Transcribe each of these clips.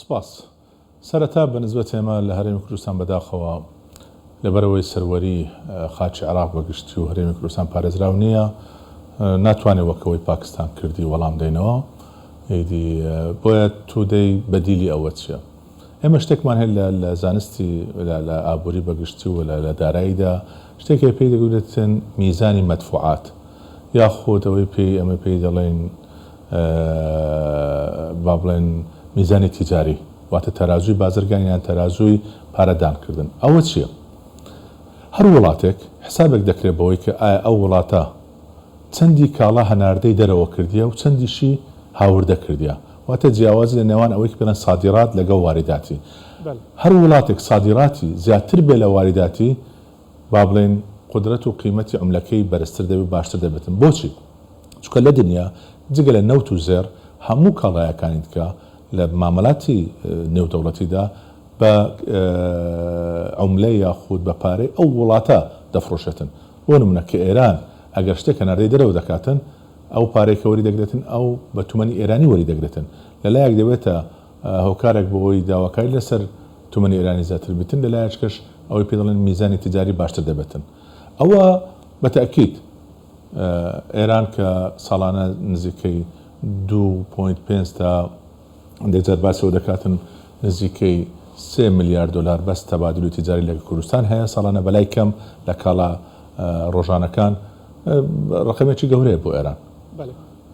سپاس. سەرەتا بە نسبەت ئێمە لە هەرێمی کوردستان بەداخەوە لەبەرئەوەی سەروەری خاکی عێراق بە گشتی و هەرێمی کوردستان پارێزراو نییە ناتوانین وەک ئەوەی پاکستان کردی وەڵام دەینەوە ئیدی بۆیە تودەی بەدیلی ئەوە چییە؟ ئێمە شتێکمان هەیە لە لە زانستی لە لە ئابووری بەگشتی و لە لە داراییدا شتێک هەیە پێی دەگوترێن میزانی مەدفوعات یاخود ئەوەی پێی ئێمە پێی دەڵێین با بڵێن میزانی تیجاری واتە تەرازووی بازرگانی یان تەرازووی پارە دان کردن ئەوە چییە؟ هەر وڵاتێک حسابێک دەکرێت بەوەی کە ئایا ئەو وڵاتە چەندی کاڵا هەناردەی دەرەوە کردیە و چەندیشی هاوردە کردیە، واتە جیاوازی لە نێوان ئەوەی کە پێڵێن سادیرات لەگەڵ واریداتی. هەر وڵاتێک سادیراتی زیاتر بێ لە واریداتی با بڵێین قودرەت و قیمەتی عملەکەی بەرزتر دەبێ و باشتر دەبێتن. بۆچی؟ چونکە لە دنیا جگە لە نەوت و زێڕ هەموو کاڵایەکانی دکە لە مامەلاتی نێودەوڵەتیدا بە عملە یاخود بە پارەی ئەو وڵاتە دەفڕۆشێتن. بۆ نمونە کە ئێران ئەگەر شتێک هەناردەی دەرەوە دەکاتن ئەو پارەی کە وەری دەگرێتن ئەو بە تومەنی ئێرانی وەری دەگرێتن لە لایەک دەبێتە هۆکارێک بۆ ئەوەی داواکاری لە سەر تومەنی ئێرانی زیاتر بیتن لە لایەچکەش ئەوەی پێ دەڵێن میزانی تجاری باشتر دەبێتن ئەوە بە تەئکید ئێران کە ساڵانە نزیکەی دوو پۆینت پێنج تا لێزەر باس لەوە دەکاتن نزیکەی سێ ملیار دۆلار بەس تەبادول و تیجاری لەگەڵ کوردستان هەیە ساڵانە بەلای کەم لە کاڵا ڕۆژانەکان ڕەقەمێکی گەورەیە بۆ ئێران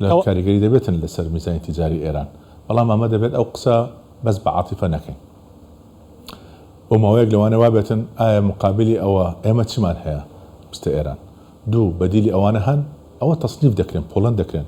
لە کاریگەری دەبێتن لەسەر میزانی تیجاری ئێران بەڵام ئەمە دەبێت ئەو قسە بەس بە عاتیفە نەکەین بۆ ماوەیەک لەوانە وابێتن ئایا مقابلی ئەوە ئێمە چمان هەیە بستە ئێران دوو بەدیلی ئەوانە هەن ئەوە تەسنیف دەکرێن پۆڵەن دەکرێن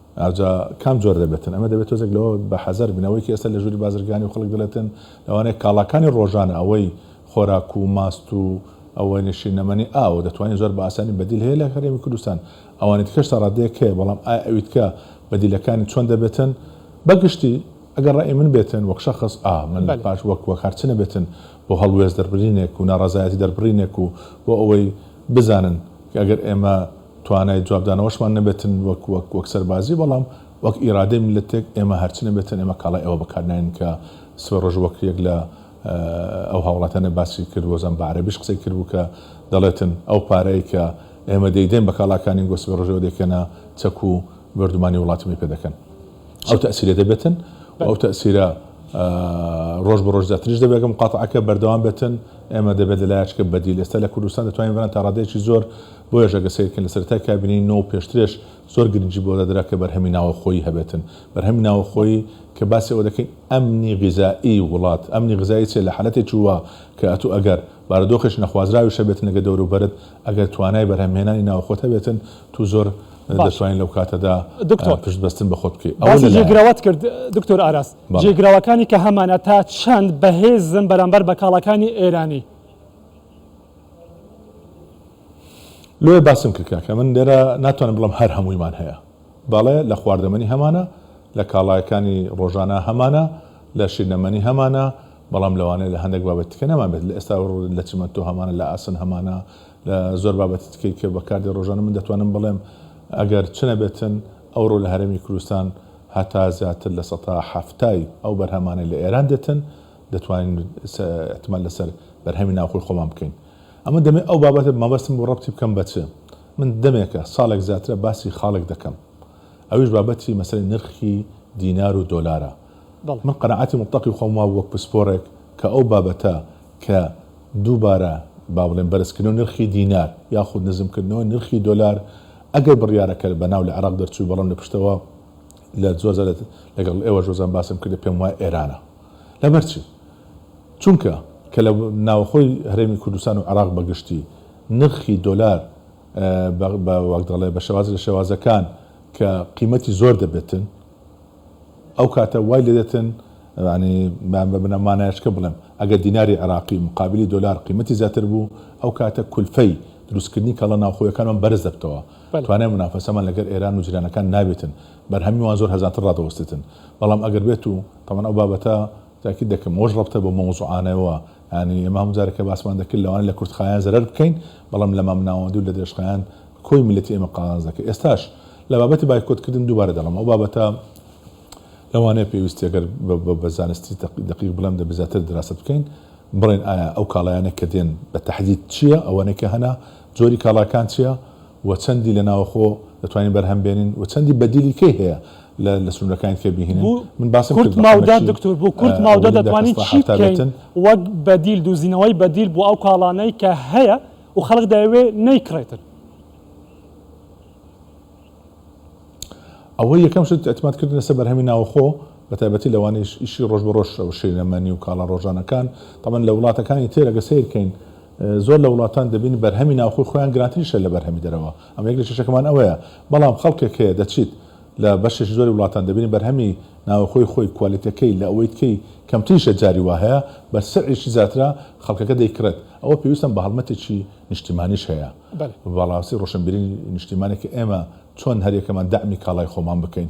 ئاوجا کام جۆر دەبێتن؟ ئەمە دەبێت تۆزێک لەوە بە حەزەر بین ئەوەی کە ئێستا لە ژووری بازرگانی و خەڵک دەڵێتن لەوانەیە کاڵاکانی ڕۆژانە ئەوەی خۆراک و ماست و ئەوەنی شینەمەنی ئاوە دەتوانین زۆر بە ئاسانی بەدیل هەیە لە هەرێمی کوردستان ئەوانی دیکەش تا ڕادەیەک هەیە بەڵام ئایا ئەوی دیکە بەدیلەکانی چۆن دەبێتن بە گشتی ئەگەر ڕای من بێتن وەک شەخس ئا من لە پاش وەک وەک هەر چ نەبێتن بۆ هەڵوێست دەربرینێک و ناڕەزایەتی دەربڕینێک و بۆ ئەوەی بزانن کە ئەگەر ئێمە توانای جوابدانەوەشمان نەبێتن وەک وەک وەک سەربازی بەڵام وەک ئیرادەی میللەتێک ئێمە هەرچی نەبێتن ئێمە کاڵای ئەوە بەکارناین کە سبەی ڕۆژ وەک یەک لە ئەو هاوڵاتیانە باسی کرد وەزان بە عەرەبیش قسەی کرد بوو کە دەڵێتن ئەو پارەی کە ئێمە دەیدەین بە کاڵاکانی گۆ سبەی ڕۆژەوە دەیکەنە چەک و بۆردومانی وڵاتەمەی پێ دەکەن ئەو تەئسیرە دەبێتن و ئەو تەئسیرە ڕۆژ بە ڕۆژ زیاتریش دەبێت کە مقاتعەکە بەردەوام بێتن ئێمە دەبێت لەلایەچکە بەدیل ئێستا لە کوردستان دەتوانین بەران تا ڕادەیەکی زۆر بۆیەش ئەگەر سەیربکەین لە سەرەتای کابینەی نۆ و پێشترێش زۆر گرنگی بەوە دەدرا کە بەرهەمی ناوەخۆیی هەبێتن، بەرهەمی ناوەخۆیی کە باسی ئەوە دەکەین ئەمنی غیزایی وڵات، ئەمنی غیزایی چیە لە حالەتێکی وا کە ئەتوو ئەگەر بارودۆخێکی نەخوازراویش هەبێتن لەگە دەوروبەرت ئەگەر توانای بەرهەم هێنانی ناوەخۆت هەبێتن توو زۆر باش دەتوانی لەو کاتەدا دکتۆر پشت بەستن بە خۆت بکەی ئەوە باسی لەلایەک. جێگرەوەت کرد دکتۆر ئاراس بەڵێ. جێگرەوەکانی کە هەمانە تا چەند بەهێزن بەرامبەر بە کاڵاکانی ئێرانی؟ لۆیە باسم کرد کاکە من لێرە ناتوانم بڵێم هەر هەموویمان هەیە بەڵێ لە خواردەمەنی هەمانە لە کاڵایەکانی ڕۆژانە هەمانە لە شیرنەمەنی هەمانە بەڵام لەوانەیە لە هەندێک بابەتی تکە نەمان بێت لە ئێستا لە چمەنتۆ هەمانە لە ئاسن هەمانە لە زۆر بابەتی تکەی کە بەکاردێ ڕۆژانە من دەتوانم بڵێم ئەگەر چ نەبێتن ئەوڕۆ لە هەرێمی کوردستان هەتا زیاتر لە سەتا حەفتای ئەو بەرهەمانەی لە ئێران دێتن دەتوانین ئیعتماد لەسەر بەرهەمی ناوخۆی خۆمان بکەین. ئەمن دەمێ ئەو بابەتە مەبەستم بوو ڕەبتی بکەم بە چ؟ من دەمێکە، ساڵێک زیاترە باسی خاڵێک دەکەم. ئەویش بابەتی مەسەلەی نرخی دینار و دۆلارە. من قەناعەتی موتڵەقی خۆم وابوو وەک پسپۆڕێک کە ئەو بابەتە کە دووبارە با بڵێین بەرزکردنەوەی نرخی دینار یاخود نزمکردنەوەی نرخی دۆلار ئەگەر بڕیارەکە بە ناو لە عێراق دەرچووی بەڵام لە پشتەوە لە زۆر جار لەگەڵ ئێوەش زۆر جار باسم کردە پێم وایە ئێرانە. لەبەر چی؟ چونکە کە لە ناوەخۆی هەرێمی کوردستان و عێراق بە گشتی نرخی دۆلار بە وەک دەڵێ بە شێوازێک لە شێوازەکان کە قیمەتی زۆر دەبێتن ئەو کاتە وای لێ دێتن یعنی بە بنە مانایشکە بڵێم ئەگەر دیناری عێراقی مقابلی دۆلار قیمەتی زیاتر بوو ئەو کاتە کولفەی دروستکردنی کاڵا ناوخۆیەکانمان بەرز دەبتەوە توانای منافەسەمان لەگەر ئێران و جیرانەکان نابێتن بەرهەمی وان زۆر هەرزانتر ڕادەوەستێتن بەڵام ئەگەر بێت و تەبعەن ئەو بابەتە تاکید دەکەم ئەوەش ڕەبتە بەو مەوزوعانەوە یانی ئێمە هەموو جارێ کە باسمان دەکرد لەوانەیە لە کورتخایەن زەرەر بکەین بەڵام لە مامناوەندی و لە درێژخایەن کۆی میللەتی ئێمە قازانج دەکرد ئێستاش لە بابەتی بایکۆت کردن دووبارە دەڵێم ئەو بابەتە لەوانەیە پێویستی ئەگەر بە زانستی دەقیق بڵێم دەبێ زیاتر دراسەت بکەین بڵێن ئایا ئەو کاڵایانە کە دێن بە تەحدید چییە ئەوانەی کە هەنە جۆری کاڵاکان چییە و چەندی لە ناوەخۆ دەتوانین بەرهەم بێنین و چەندی بەدیلی کەی هەیە لە لە سنورەکانی تکێ بیهینن من باسم کرد بە حەمە چی دکتۆر بۆ کورت ماودە دەتوانین چی بکەین وەک بەدیل دوزینەوەی بەدیل بۆ ئەو کاڵانەی کە هەیە و خەڵک دەیەوێ نەیکڕێتن. ئەوەی یەکەم شت ئیعتماد کردن لەسەر بەرهەمی ناوەخۆ بە تایبەتی لەوانەی ئیشی ڕۆژ بە ڕۆژ و شینەمەنی و کاڵا ڕۆژانەکان، تەبعەن لە وڵاتەکانی تر ئەگەر سەیر کەین زۆر لە وڵاتان دەبین بەرهەمی ناوخۆی خۆیان گرانتریشە لە بەرهەمی دەرەوە، ئەمە یەک لە کێشەکەمان ئەوەیە، بەڵام خەڵکێک هەیە دەچیت لە بەشێکی زۆری وڵاتان دەبینی بەرهەمی ناوەخۆی خۆی کوالێتیەکەی لە ئەوەی تکەی کەمتریشە جاری وا هەیە بە سعرێکی زیاترە خەڵکەکە دەیکڕێت، ئەوە پێویستم بە هەڵمەتێکی نیشتیمانیش هەیە بەڵاستی ڕۆشنبیری نیشتیمانێک کە ئێمە چۆن هەریەکەمان دەعمی کاڵای خۆمان بکەین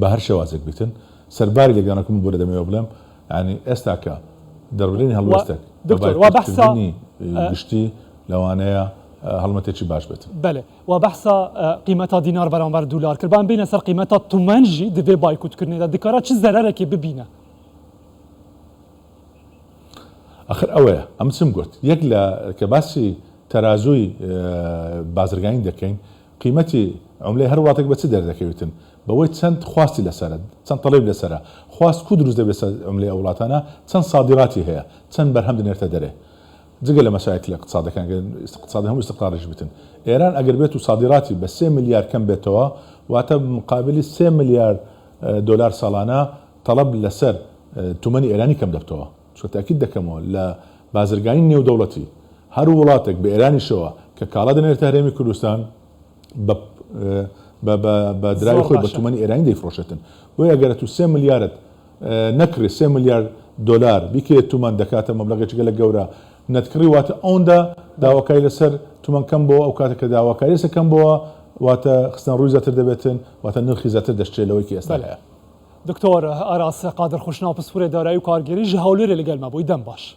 بە هەر شێوازێک بیتن سەرباری لێکدانەوەکە من بۆ لە دەمەوێ بڵێم یانی ئێستا کە دەربرینی و هەڵوێستێک لە دکتۆر وا بەحسە بایکوتکردنی ئە. گشتی لەوانەیە هەڵمەتێکی باش بێتن. بەلێ وا بەحسە ئە قیمەتا دینار بەرامبەر دولار کرد بان بینە سەر قیمەتا تومەن ژی دڤێ بایکوتکردنێدا دکارا چ زەرەرەکێ ببینە؟ ئەخر ئەوەیە ئەمن چم گۆت یەک لە کە باسی تەرازووی بازرگانی دەکەین، قیمەتی عوملەی هەر وڵاتێک بە چ دەردەکەویتن؟ بەوەی چەند خواستی لەسەرە، چەند تەڵیب لەسەرە، خواست کوو دروست دەبێت سەر عوملەی ئەو وڵاتانە، چەند سادیراتی هەیە، چەند بەرهەم دەنێرتە دەرێ. جگە لە مەشاکلی ئقتسادەکان گەر ئقتسادی هەموو ئیستقراریش بیتن. ئێران ئەگەر بێت و سادیراتی بە سێ ملیار کەم بێتەوە واتە مقابلی سێ ملیار دۆلار ساڵانە تەڵەب لەسەر تومەنی ئێرانی کەم دەبتەوە. چون تاکید دەکەمەوە لە بازرگانی نێودەوڵەتی هەر وڵاتێک بە ئێرانیشەوە کە کاڵا دەنێرێتە هەرێمی کوردستان بە بە دراوی خۆی بە تومەنی ئێرانی دەیفرۆشێتن بۆیە ئەگەر ئەتوو سێ ملیارت نەکڕی سێ ملیار دۆلار بیکرێت تومەن دەکاتە مەبلەغێکی گەلە گەورە نەتکڕی واتە ئەوندا داواکاری لەسەر تومەن کەم بۆ ئەو کاتە کە داواکاری لەسەر کەم بۆوە واتە خستنە ڕووی زیاتر دەبێتن واتە نرخی زیاتر دەشترێت لەوەی کە ئێستا هەیە. دکتۆر ئاراس قادر خوشناو پسپورێ دارایی و کارگێری ژە هەولێرێ لەگەلمە بوی دەم باش.